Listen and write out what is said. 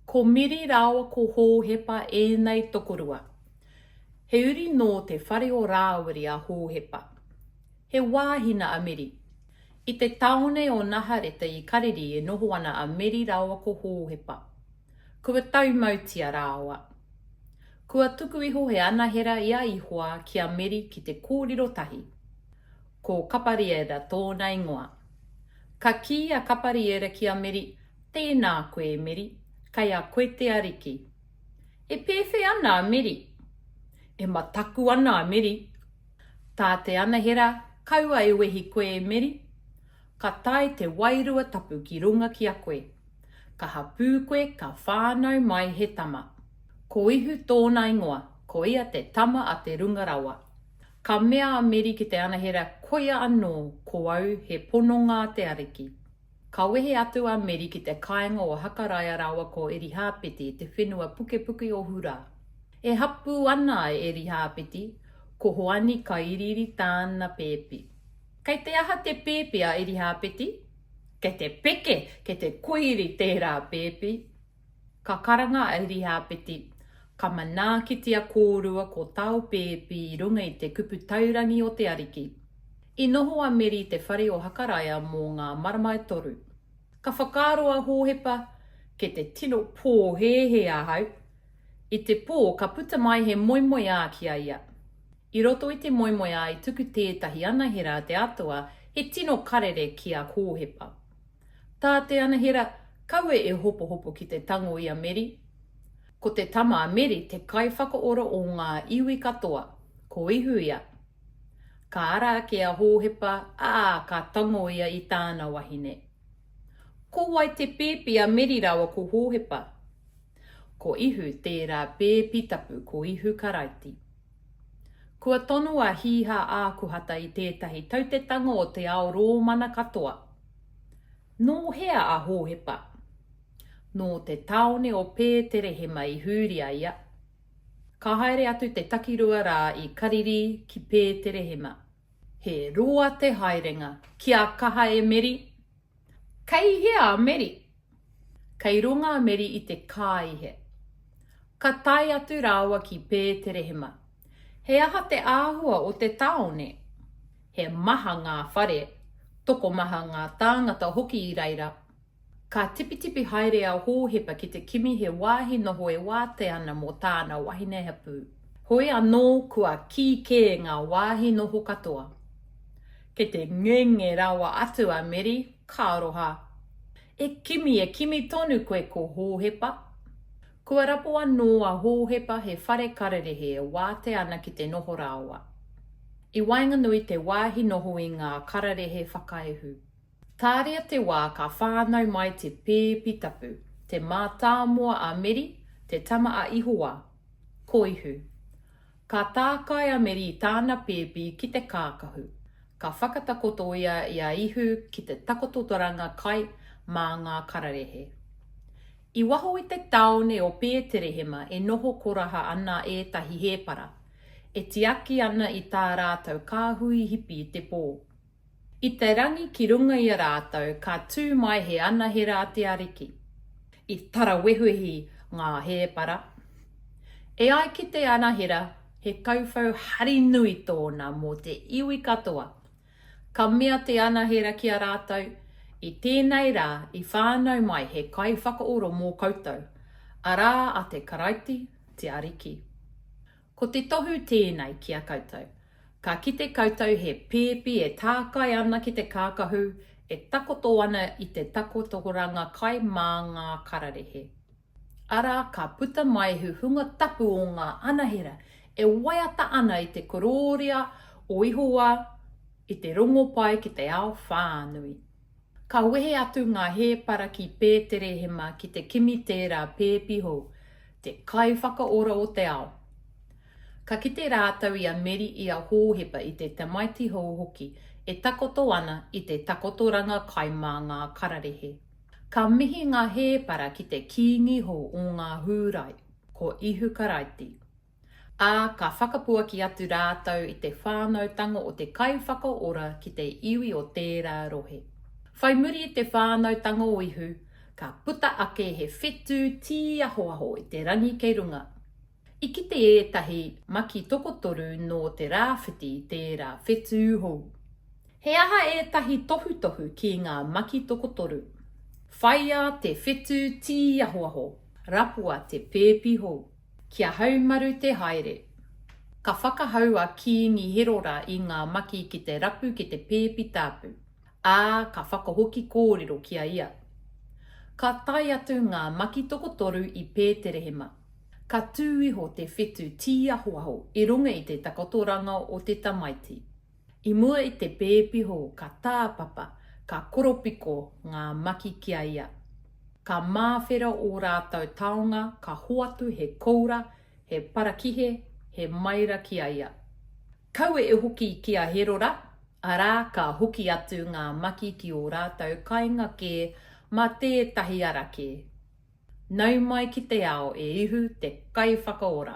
Ko Miri rāua ko Hōhepa ēnei tokorua. He uri nō te whare o Rāwiri a Hōhepa. He wāhina a Miri. I te tāone o Nahareta i Kariri e noho ana a Miri rāua ko Hōhepa. Kua taumautia rāua. Kua tuku iho he anahera i a Ihoa ki a Miri ki te kōriro tahi. Ko Kapariera tōna ingoa. Ka kī a Kapariera ki a Meri, Tēnā koe e Meri, kei a koe te Ariki. E pēwhe ana a Meri? E mataku ana a Meri. Tā te anahera, Kaua e wehi koe e Meri. Ka tae te Wairua Tapu ki runga ki a koe. Ka hapū koe, ka whānau mai he tama. Ko Ihu tōna ingoa, ko ia te Tama a te Runga Rawa. Ka mea a Meri ki te anahera koia anō ko au he pononga a te Ariki. Ka wehe atu a Meri ki te kāinga o Hakaraia rāua ko Erihāpeti te whenua pukepuke o Hura. E hapū ana a Erihāpeti, ko Hoani ka iriiri tāna pēpi. Kei te aha te pēpi a Erihāpeti? Kei te peke, kei te koiri tērā pēpi. Ka karanga a Iriapeti, Ka manaakitia kōrua ko tāu pēpi i runga i te kupu taurangi o te Ariki. I noho a Meri i te whare o Hakaraia mō ngā marama e toru. Ka whakaaro a Hōhepa, Kei te tino pōhēhē ahau. I te pō ka puta mai he moemoeā ki a ia. I roto i te moemoeā i tuku tētahi anahera a te Atua, he tino karere ki a Hōhepa. Tā te anahera kawe e hopohopo ki te tango i a Meri. Ko te tama a Meri te kaiwhakaora o ngā iwi katoa, ko Ihu ia. Ka ara ake a Hōhepa, ā, ka tango ia i tāna wahine. Ko wai te pēpi a Meri rāua ko Hōhepa? Ko Ihu tērā pēpi tapu, ko Ihu Karaiti. Kua tono a Hīhā Ākuhata i tētahi tautetanga o te ao Rōmana katoa. Nō hea a Hōhepa? Nō te tāone o Pēterehema i huri a ia. Ka haere atu te takirua rā i Kariri ki Pēterehema. He roa te haerenga. Kia kaha e Meri! Kei hea a Meri? Kei runga a Meri i te kāihe. Ka tae atu rāua ki Pēterehema. He aha te āhua o te tāone? He maha ngā whare, tokomaha ngā tāngata hoki i reira. Ka tipitipi haere a Hōhepa ki te kimi he wāhi noho e wātea ana mō tāna wahine hapū. Hoi anō kua kī kē ngā wāhi noho katoa. Kei te ngenge rawa atu a Meri, Ka aroha. E kimi, e kimi tonu koe ko Hōhepa. Kua rapo anō a Hōhepa he whare kararehe e wātea ana ki te noho rāoa. I waenganui te wāhi noho i ngā kararehe whakaehu. Tāria te wā ka whānau mai te pēpi tapu, te mātāmua a Meri, te tama a Ihowa. Koihu. Ka tākai a Meri i tāna pēpi ki te kākahu. Ka whakatakoto ia i a Ihu ki te takoto toranga kai mā ngā kararehe. I waho i te tāone o Pēterehema e noho koraha ana ētahi hēpara, e tiaki ana i tā rātou kāhui hipi te pō. I te rangi ki runga i a rātou ka tū mai he anahera a te Ariki. I tarawehuhi ngā hēpara. E ai ki te anahera, he kauwhau hari nui tōna mō te iwi katoa. Ka mea te anahera ki a rātou, I tēnei rā i whānau mai he kaiwhakaoro mō koutou, arā a te Karaiti te Ariki. Ko te tohu tēnei ki a koutou, ka kite koutou he pēpi e tākai ana ki te kākahu e takoto ana i te takotoranga kai mā ngā kararehe. Arā ka puta mai he hunga tapu o ngā anahera e waiata ana i te korōria o Ihowā i te rongopai ki te ao whānui. Ka wehe atu ngā hēpara ki Pēterehema ki te kimi tērā pēpi hou, te Kaiwhakaora o te ao. Ka kite rātou i a Meri i a Hōhepa i te tamaiti hou hoki e takoto ana i te takotoranga kai mā ngā kararehe. Ka mihi ngā hēpara ki te kīngi hou o ngā Hūrai, ko Ihu Karaiti. ā, ka whakapuaki atu rātou i te whānautanga o te Kaiwhakaora ki te iwi o tērā rohe. Whai muri i te whānautanga o Ihu, ka puta ake he whetū tīahoaho i te rangi kei runga. I kite ētahi maki tokotoru nō te rāwhiti i tērā whetū hou. He aha ētahi tohutohu ki ngā maki tokotoru? Whaiā te whetū tīahoaho, rapua te pēpi hou. Ki a Haumaru te haere. Ka whakahau a Kiingi Herora i ngā maki ki te rapu ki te pēpi tāpu, ā, ka whakahoki kōrero ki a ia. Ka tae atu ngā maki tokotoru i Pēterehema. Ka tū iho te whetu tīahoaho i runga i te takotoranga o te tamaiti. I mua i te pēpiho ka tāpapa, ka koropiko ngā maki ki a ia. Ka māwhera ō rātou taonga ka hoatu he koura, he parakihe, he maira ki a ia. Kaua e hoki ki a Herora, arā ka hoki atu ngā maki ki ō rātou kainga kē mā tētahi ara kē. Nau mai ki te ao e Ihu te Kaiwhakaora!